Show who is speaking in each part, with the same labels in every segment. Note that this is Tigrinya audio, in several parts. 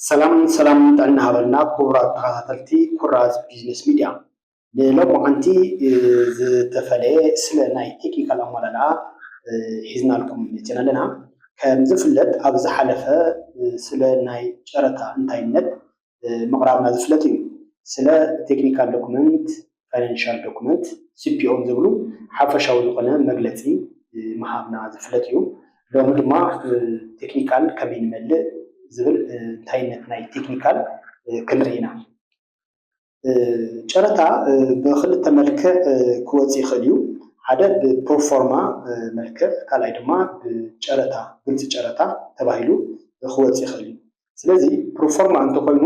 Speaker 1: ሰላም ሰላም ጥዕና ሃበልና ክቡራት ተኸታተልቲ ኩራዝ ቢዝነስ ሚድያ ንሎማዓንቲ ዝተፈለየ ስለ ናይ ቴክኒካል ኣመላልኣ ሒዝናልኩም መፂና ኣለና ከም ዝፍለጥ ኣብ ዝሓለፈ ስለ ናይ ጨረታ እንታይነት ምቕራብና ዝፍለጥ እዩ። ስለ ቴክኒካል ዶክመንት፣ ፋይናንሻል ዶክመንት፣ ሲፒኦን ዝብሉ ሓፈሻዊ ዝኾነ መግለፂ ምሃብና ዝፍለጥ እዩ። ሎሚ ድማ ቴክኒካል ከመይ ንመልእ ዝብል እንታይነት ናይ ቴክኒካል ክንርኢ ኢና። ጨረታ ብክልተ መልክዕ ክወፅ ይኽእል እዩ። ሓደ ብፕሮፎርማ መልክዕ ካልኣይ ድማ ብጨረታ ግልፂ ጨረታ ተባሂሉ ክወፅ ይኽእል እዩ። ስለዚ ፕሮፎርማ እንተኾይኑ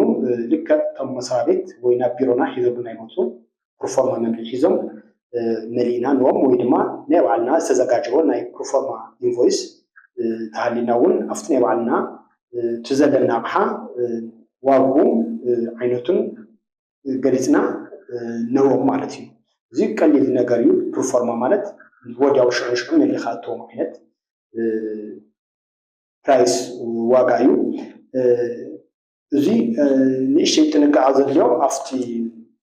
Speaker 1: ልክዕ እቶም መስሪያ ቤት ወይ ናብ ቢሮና ሒዘሙልና ይመፁ ፕሮፎርማ መምልኢ ሒዞም መሊእና ንዎም ወይ ድማ ናይ ባዕልና ዝተዘጋጀወ ናይ ፕሮፎርማ ኢንቮይስ ተሃሊና እውን ኣብቲ ናይ ባዕልና እቲ ዘለና ኣቕሓ ዋግኡ ዓይነቱን ገሊፅና ንህቦም ማለት እዩ። እዚ ቀሊል ነገር እዩ ፕርፎርማ ማለት ወዲያው ሽዑ ንሽዑ መሊኻ እትህቦም ዓይነት ፕራይስ ዋጋ እዩ። እዚ ንእሽተይ ጥንቃቐ ዘድልዮ ኣብቲ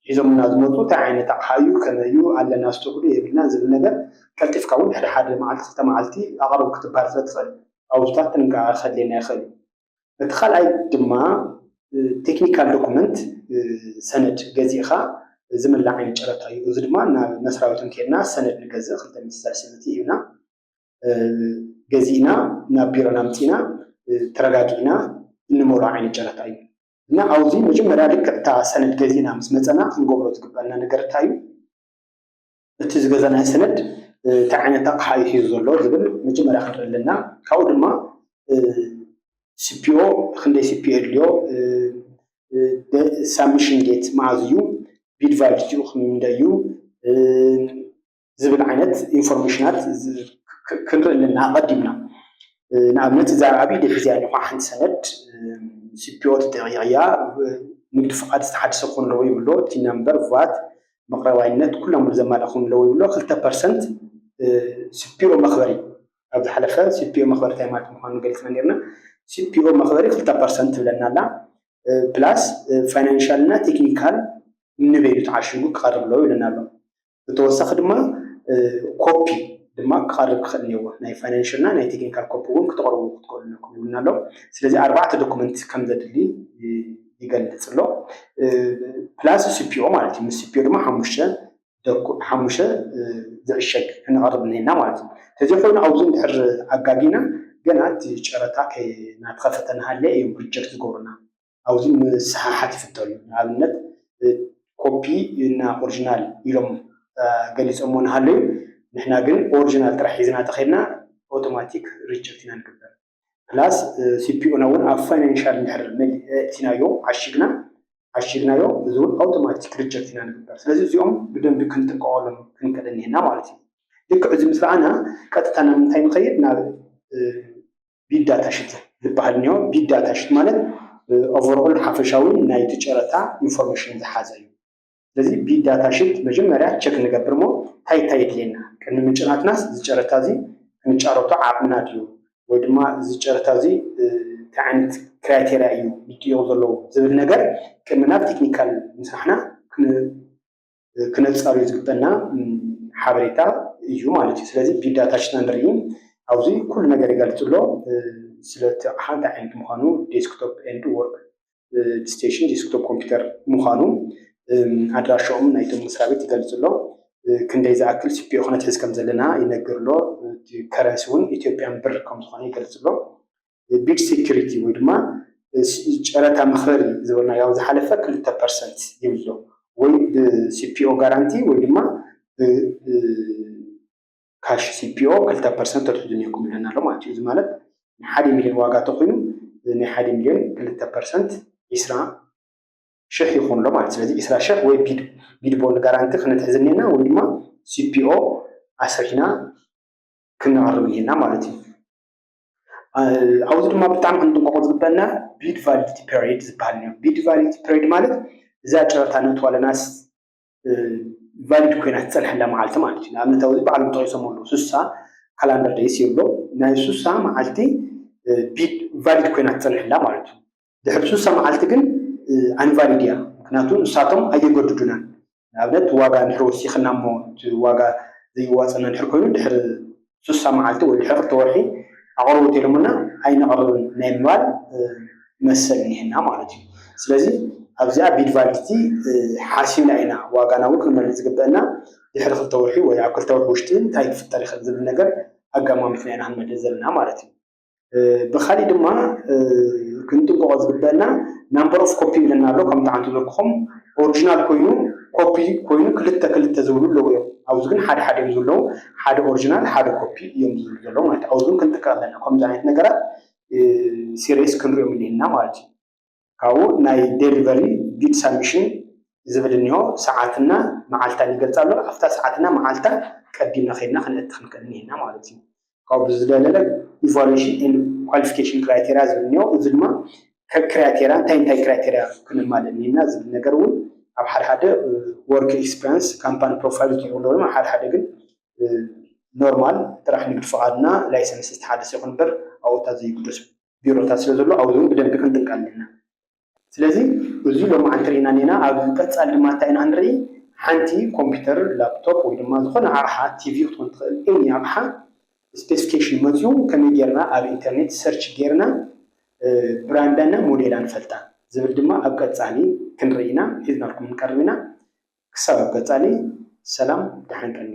Speaker 1: ሒዞምልና ዝመፁ እንታይ ዓይነት ኣቕሓ እዩ፣ ከመይ እዩ፣ ኣለና ስቶክ ዶ የብልናን ዝብል ነገር ቀልጢፍካ እውን ድሕሪ ሓደ መዓልቲ ክልተ መዓልቲ ኣቕርብ ክትበሃል ስለትኽእል ኣብኡታት ጥንቃቐ ከድልየና ይኽእል እዩ። እቲ ካልኣይ ድማ ቴክኒካል ዶኩመንት ሰነድ ገዚእኻ ዝምላዕ ዓይነት ጨረታ እዩ። እዚ ድማ ናብ መስሪያ ቤቶም ከይድና ሰነድ ንገዝእ ክልተ ሚእቲ ሰለስተ ሚእቲ ሂብና ገዚእና ናብ ቢሮና ኣምፂእና ተረጋጊእና እንመሮ ዓይነት ጨረታ እዩ እና ኣብዚ መጀመርያ ልክዕ እታ ሰነድ ገዚእና ምስ መፀና ክንገብሮ ዝግበአና ነገር እንታይ እዩ እቲ ዝገዛናዮ ሰነድ እንታይ ዓይነት ኣቕሓ እዩ ሒዙ ዘሎ ዝብል መጀመርያ ክንርኢ ኣለና ካብኡ ድማ ስፒኦ ክንደይ ስፒኦ የድልዮ ሳብሚሽን ዴት መዓዝ እዩ ቢድ ቫሊቲኡ ክንደይ እዩ ዝብል ዓይነት ኢንፎርሜሽናት ክንርኢ ኣለና ኣቐዲምና። ንኣብነት እዛ ኣብ ኢደይ ሒዘያ ዘለኹ ሓንቲ ሰነድ ሲፒኦ ትጠይቕ እያ። ንግዲ ፍቓድ ዝተሓደሰ ክኾን ኣለዎ ይብሎ፣ ቲን ናምበር፣ ቫት፣ መቕረባይነት ኩሎም ዘማልእ ክኾን ኣለዎ ይብሎ። ክልተ ፐርሰንት ሲፒኦ መኽበሪ ኣብ ዝሓለፈ ሲፒኦ መኽበሪ እንታይ ማለት ምዃኑ ገሊፅና ነይርና። ሲፒኦ መኽበሪ ክልተ ፐርሰንት ትብለና ኣላ። ፕላስ ፋይናንሻል እና ቴክኒካል ንበይኑ ተዓሽጉ ክቐርብ ኣለዎ ይብለና ኣሎ። ብተወሳኺ ድማ ኮፒ ድማ ክቐርብ ክኽእል እኒኦዎ ናይ ፋይናንሽል እና ናይ ቴክኒካል ኮፒ እውን ክተቕርቡ ክትክእሉ ነኩም ይብልና ኣሎ ስለዚ ኣርባዕተ ዶኩመንት ከም ዘድሊ ይገልጽ ኣሎ ፕላስ ሲፒኦ ማለት እዩ ምስ ሲፒኦ ድማ ሓሙሽተ ሓሙሽተ ዝዕሸግ ክንቐርብ እኒና ማለት እዩ ተዘይኮይኑ ኣብዚ እንድሕር ኣጋጊና ገና እቲ ጨረታ ናትኸፈተ ናሃለ እዮም ሪጀክት ዝገብሩና ኣብዙይ ምስሓሓት ይፍተኑ ንኣብነት ኮፒ እና ኦርጅናል ኢሎም ገሊፆሞ ንሃለዩ ንሕና ግን ኦርጅናል ጥራሕ ሒዝና ተኸድና ኣውቶማቲክ ሪጀክት ኢና ንግበር ፕላስ ሲፒኦና እውን ኣብ ፋይናንሻል ንድሕር መሊእቲናዮ ዓሽግና ዓሽግናዮ እዚ እውን ኣውቶማቲክ ሪጀክት ኢና ንግበር ስለዚ እዚኦም ብደንቢ ክንጥቀቀሎም ክንከደ እኒሀና ማለት እዩ ልክዕ እዚ ምስ ረኣና ቀጥታ ናብ ምንታይ ንኸይድ ናብ ቢዳ ታሽት ዝበሃል እኒሆ። ቢዳ ታሽት ማለት ኦቨርኦል ሓፈሻዊ ናይቲ ጨረታ ኢንፎርሜሽን ዝሓዘ እዩ። ስለዚ ቢዳ ታሽት መጀመርያ ቸክ ንገብር እሞ እንታይ እንታይ የድልየና ቅድሚ ምጭናትናስ እዚ ጨረታ እዚ ክንጫረቶ ዓቕምና ድዩ ወይ ድማ እዚ ጨረታ እዚ እንታይ ዓይነት ክራይቴርያ እዩ ምጥይቕ ዘለዎ ዝብል ነገር ቅድሚ ናብ ቴክኒካል ምስራሕና ክነጻርዩ ዝግበና ሓበሬታ እዩ ማለት እዩ። ስለዚ ቢግ ዳታ ሽና ንርኢ ኣብዚ ኩሉ ነገር ይገልጽ ኣሎ ስለቲ ኣቕሓ እንታይ ዓይነት ምዃኑ ዴስክቶፕ ኤንድ ወርክ ስቴሽን ዴስክቶፕ ኮምፒውተር ምዃኑ ኣድራሻኦም ናይቶም መስሪያ ቤት ይገልጽ ኣሎ። ክንደይ ዝኣክል ሲፒኦ ክነትሕዝ ከም ዘለና ይነግር ኣሎ። እቲ ከረንሲ እውን ኢትዮጵያን ብር ከም ዝኾነ ይገልጽ ኣሎ። ቢድ ሴኩሪቲ ወይ ድማ ጨረታ መክረሪ ዝበልናዮ ኣብ ዝሓለፈ ክልተ ፐርሰንት ይብሎ ወይ ብሲፒኦ ጋራንቲ ወይ ድማ ካሽ ሲፒኦ ክልተ ፐርሰንት ተትሕዙ ነይርኩም ኣለና ኣሎ ማለት እዩ እዚ ማለት ናይ ሓደ ሚልዮን ዋጋ ተኮይኑ ናይ ሓደ ሚልዮን ክልተ ፐርሰንት ዒስራ ሽሕ ይኹን ኣሎ ማለት ስለዚ ዒስራ ሽሕ ወይ ቢድ ቢድ ቦንድ ጋራንቲ ክነትሕዝ እኒና ወይ ድማ ሲፒኦ ኣስሪሕና ክነቕርብ እኒና ማለት እዩ ኣብዚ ድማ ብጣዕሚ ክንጥንቀቆ ዝግበኣና ቢድ ቫሊዲቲ ፔሪድ ዝበሃል እዩ። ቢድ ቫሊዲቲ ፔሪድ ማለት እዛ ጨረታ ነእትዋ ኣለናስ ቫሊድ ኮይና ትፀንሐላ መዓልቲ ማለት እዩ። ንኣብነት ኣብዚ ባዕሎም ጠቂሶም ኣለዉ ስሳ ካላንደር ደይስ ይብሎ ናይ ስሳ መዓልቲ ቢድ ቫሊድ ኮይና ትፀንሐላ ማለት እዩ። ድሕሪ ስሳ መዓልቲ ግን ኣንቫሊድ እያ ምክንያቱ ንሳቶም ኣየገድዱናን ንኣብነት ዋጋ ድሕሪ ወሲኽና እሞ እቲ ዋጋ ዘይዋፀና ድሕሪ ኮይኑ ድሕሪ ስሳ መዓልቲ ወይ ድሕሪ ክልተ ወርሒ ኣቕርቡ እንተይሎሙና ኣይነቕርብን ናይ ምባል መሰል እኒሀና ማለት እዩ ስለዚ ኣብዚኣ ቢድ ቫሊዲቲ ሓሲብና ኢና ዋጋና እውን ክንመልእ ዝግበአና ድሕሪ ክልተ ወርሒ ወይ ኣብ ክልተ ወርሒ ውሽጢ እንታይ ክፍጠር ይኽእል ዝብል ነገር ኣጋማሚትና ኢና ክንመልእ ዘለና ማለት እዩ ብካሊእ ድማ ክንጥንቀቆ ዝግበእና ናምበር ኦፍ ኮፒ ኢለና ኣሎ ከም ጣዓም ዝበልኩኹም ኦርጂናል ኮይኑ ኮፒ ኮይኑ ክልተ ክልተ ዝብሉ ኣለዉ እዮም ኣብዚ ግን ሓደ ሓደ እዮም ዘለዉ ሓደ ኦርጂናል ሓደ ኮፒ እዮም ዝብሉ ዘለዉ ማለት ኣብዚ ግን ክንጥቀቅ ኣለና ከምዚ ዓይነት ነገራት ሲሪየስ ክንሪኦም ኣለና ማለት እዩ ካብኡ ናይ ደሊቨሪ ጊድ ሳሚሽን ዝብል እኒሆ ሰዓት እና መዓልታን ይገልፅ ኣሎ ኣፍታ ሰዓት እና መዓልታ ቀዲምና ከይድና ከነእቲ ክንክእል እኒሀና ማለት እዩ ካብኡ ብዝደለለ ኢቫሉዌሽን ኤንድ ኳሊፊኬሽን ክራይቴሪያ ዝብል እኒሆ እዚ ድማ ከክራይቴሪያ እንታይ እንታይ ክራይቴሪያ ክነማልእ እኒህና ዝብል ነገር እውን ኣብ ሓደ ሓደ ወርክ ኤክስፒሪንስ ካምፓኒ ፕሮፋይል ዝጥርብሎ ድማ ሓደ ሓደ ግን ኖርማል ጥራሕ ንግድ ፍቓድና ላይሰንስ ዝተሓደሰ ይኹን እምበር ኣብኡታ ዘይግደሱ ቢሮታት ስለ ዘሎ ኣብዚ እውን ብደንቢ ክንጥንቀ ኣለና። ስለዚ እዚ ሎማዓንቲ ርኢና እኔና ኣብ ቀፃሊ ድማ እንታይ ኢና ክንርኢ ሓንቲ ኮምፒተር ላፕቶፕ ወይ ድማ ዝኾነ ኣቕሓ ቲቪ ክትኮን ትኽእል ኤኒ ኣቕሓ ስፔስፊኬሽን መፂኡ ከመይ ጌርና ኣብ ኢንተርኔት ሰርች ጌርና ብራንዳ እና ሞዴላ ንፈልጣ ዝብል ድማ ኣብ ቀፃሊ ክንርኢ ኢና ሒዝናልኩም ንቀርብ ኢና ክሳብ ኣብ ቀፃሊ ሰላም ደሓን ቀንዩ